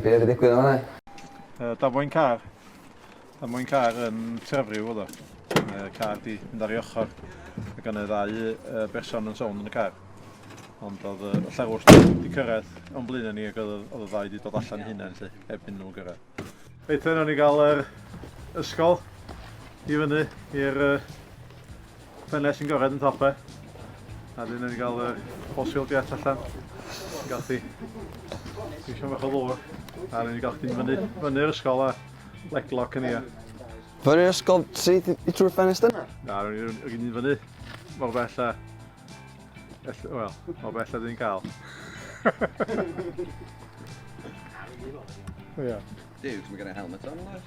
Be oedd y digwydd yma? Uh, damwain car. Damwain car yn trefryw oedd o. Uh, car di mynd ar ei ochr. Ac yna ddau uh, berson yn sôn yn y car. Ond oedd y llerwr wedi cyrraedd o'n blaen ni ac oedd y ddau wedi dod allan hunain lle, heb hyn nhw'n gyrraedd. Reit, yna ni gael yr ysgol i fyny i'r uh, Ffenest sy'n gored yn top e. A dyn ni'n cael y fossil jet allan. Yn gael chdi. Dwi'n siarad bach o ddŵr. A dyn ni'n gael chdi'n fyny, fyny'r ysgol a leglock yn ia. Fyny'r ysgol sydd i trwy'r ffenest yna? Na, rwy'n ni'n fyny. Mor bell a... Wel, mor bell a dyn cael. Ia. Dude, mae gen i helmet on, oes?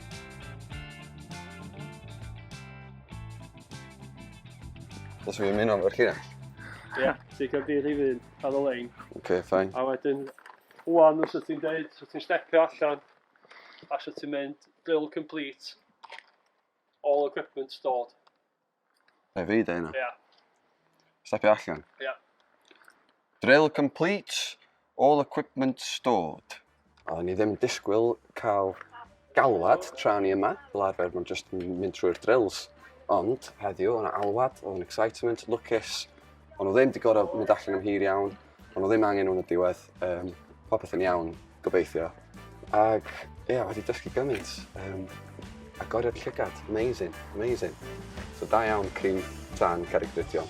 Os fi'n mynd o'n felly na. Ie, yeah, ti'n cael di rhif un, ar y lein. Oce, okay, ffain. A wedyn, wwan, os ti'n deud, os ti'n stepio allan, a os ti'n mynd, drill complete, all equipment stored. Rhaid fi dweud hynna. Ia. Stepio allan. Ia. Drill complete, all equipment stored. O'n i ddim disgwyl cael galwad tra ni yma, fel arfer mae'n just mynd trwy'r drills. Ond heddiw, o'na alwad, o'na excitement, lwcus. O'n nhw ddim wedi gorfod mynd allan am hir iawn. Ond o ddim angen nhw'n y diwedd, um, popeth yn iawn, gobeithio. Ac, ie, yeah, wedi dysgu gymaint. Um, agoriad llygad, amazing, amazing. So da iawn, Cryf, Dan, Carreg Brydion.